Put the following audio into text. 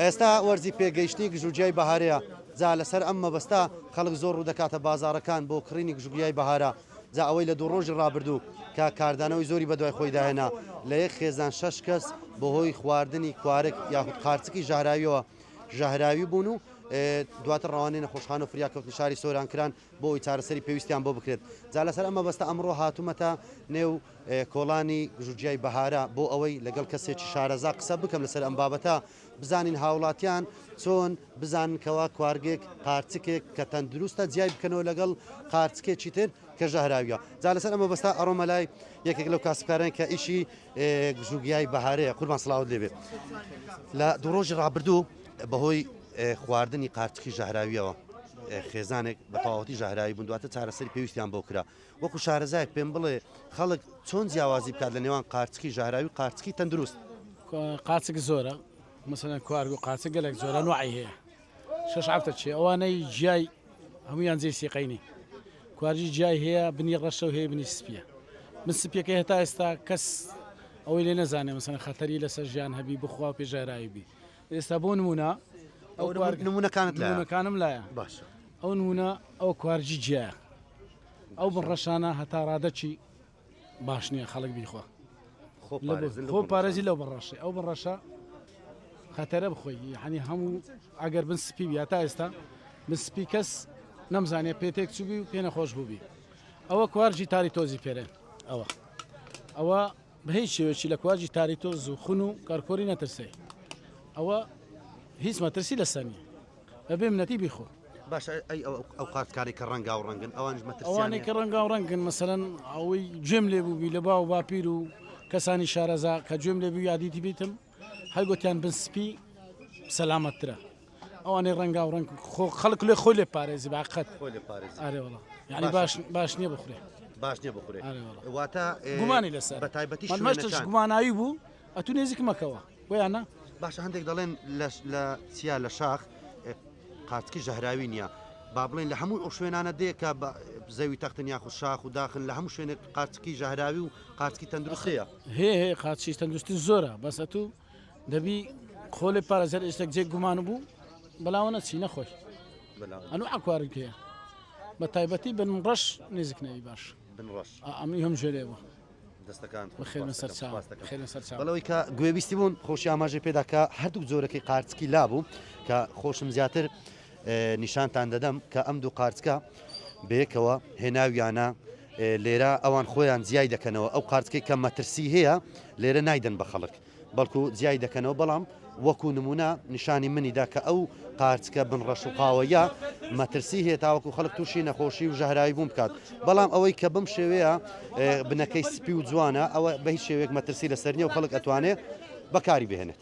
ئێستا وەرزی پێگەیشتنی گژوگیای بەهارەیە، جا لەسەر ئەم مەبەستە خەڵک زۆر ڕوودەکاتە بازاڕەکان بۆ کڕینی گژوگیای بەهارە، جا ئەوەی لە دوو ڕۆژی ڕابردوو کە کاردانەوەی زۆری بەدوای خۆیدا هێنا، لە یەک خێزان شەش کەس بەهۆی خواردنی کوارگ یاخود قارچکی ژەهراوییەوە ژەهراوی بوون و دواتر ڕەوانەی نەخۆشخانە و فریاکەوتنی شاری سۆران کران بۆ ئەوەی چارەسەری پێویستیان بۆ بکرێت، جا لەسەر ئەم مەبەستە ئەمڕۆ هاتوومەتە نێو کۆڵانی ژوجیای بەهارە بۆ ئەوەی لەگەڵ کەسێکی شارەزا قسە بکەم لەسەر ئەم بابەتە بزانین هاوڵاتیان چۆن بزانن کەوا کوارگێک قارچکێک کە تەندروستە جیای بکەنەوە لەگەڵ قارچکێکی تر کە ژەهراویە جا لەسەر ئەمە بەستا ئەڕۆمە لای یەکێک لەو کاسبکاران کە ئیشی گژوگیای بەهارەیە قوربان سڵاوت لێبێ لە دوو ڕۆژی ڕابردوو بەهۆی خواردنی قارچکی ژەهراویەوە خێزانێک بە تەواوەتی ژەهراوی بوون دواتە چارەسەری پێویستیان بۆ کرا وەکو شارەزایەک پێم بڵێ خەڵک چۆن جیاوازی بکات لە نێوان قارچکی ژەهراوی قارچکی تەندروست؟ قاچک زۆرە مەسەن کوارگ و قاچە گەلێک زۆرە نوعی هەیە شش هەفتە چێ ئەوانەی جیای هەمویان جێ سیقینی کوارجی جیای هەیە بنی ڕەشە و هەیە بنی سپیە من سپیەکە هێتا ئێستا کەس ئەوەی لێ نەزانێ مەسەن خەتەری لەسەر ژیان هەبی بخوا پێژاراوی بی ئێستا بۆ نمونە ئەو نمونونەکانت لەەکانم لایە باشە ئەو نمونە ئەو کوارجی جیایە ئەو بڕەشانە هەتا ڕادەچی باش نییە خەڵک بیخوا خۆ پارێزی لەو بڕەشی ئەو بڕەشە خەتەرە بخۆی یعنی هەموو ئەگەر بن سپی یا تا ئێستا من سپی کەس نەمزانێ پێتێک چوبی و پێ نەخۆش بووبی ئەوە کوارجی تاری تۆزی پێرێن ئەوە ئەوە بە هیچ شێوەیەکی لە کواجی تاریتۆز و خون و کەرکۆری نەترسێ ئەوە هیچ مەترسی لەسەر نیە بە بێ منەتی بیخۆ. باشە ئەی ئەو قارت کانەی کە ڕەنگاو ڕەنگن ئەوانش مەترسیان نیە؟ ئەوانەی کە ڕەنگاو ڕەنگن مەسەلەن ئەوەی گوێم لێ بووبی لە باو و باپیر و کەسانی شارەزا کە گوێم لێ بووی یا دیتیبیتم، هەر گۆتیان بن سپی سەلامەتترە ئەوانەی ڕەنگا و ڕەنگ خۆ خەڵک لێ خۆی لێ پارێزی باقەت خۆی لێ پارێزی. ئارێ وڵا یعنی باشە. باش باش نییە بخورێ باش نییە بخورێ ئارێ وڵا. واتە ئێ، گومانی لەسەر بە تایبەتی من مەشتش شوێنەکان. گوماناوی بوو ئەتوو نێزیک مەکەوە بۆیانە باشە هەندێک دەڵێن لەش لە چیا لە شاخ ئێ، قارچکی ژەهراوی نییە با بڵێن لە هەموو ئەو شوێنانە دێ کە بە زەوی تەختن یاخود شاخ و داخن لە هەموو شوێنێک قارچکی ژەهراوی و قارچکی تەندروست هەیە هەیە هەیە قاچیش تەندروستن زۆرە بەس ئەتوو دەبی خۆ لێ پارێزەر ئێشتێک جێک گومان بوو بەلاوە نەچی نەخۆش ئەنو ئاکوارن پێە بە تایبەتی بن ڕەش نزیک نەوی باش ئەمی هەم ژێرێ بوو دەستەکان خێرە سەر خێرە سەر بەڵەوەی کە گوێویستی بوون خۆشی ئاماژە پێداکە هەردوو جۆرەکەی قارچکی لابوو کە خۆشم زیاتر نیشانتان دەدەم کە ئەم دوو قارچکە بەیەکەوە هێناویانە لێرە ئەوان خۆیان جیای دەکەنەوە ئەو قارچکەی کە مەترسی هەیە لێرە نایدەن بە خەڵک بەڵکو جیای دەکەنەوە بەڵام وەکو نمونە نیشانی منیدا کە ئەو قارچکە بن ڕەش و قاوەیە مەترسی هەیە تاوەکو خەڵک تووشی نەخۆشی و ژەهراوی بوون بکات بەڵام ئەوەی کە بم شێوەیە بنەکەی سپی و جوانە ئەوە بە هیچ شێوێک مەترسی لەسەر نیە و خەڵک ئەتوانێت بەکاری بهێنێت.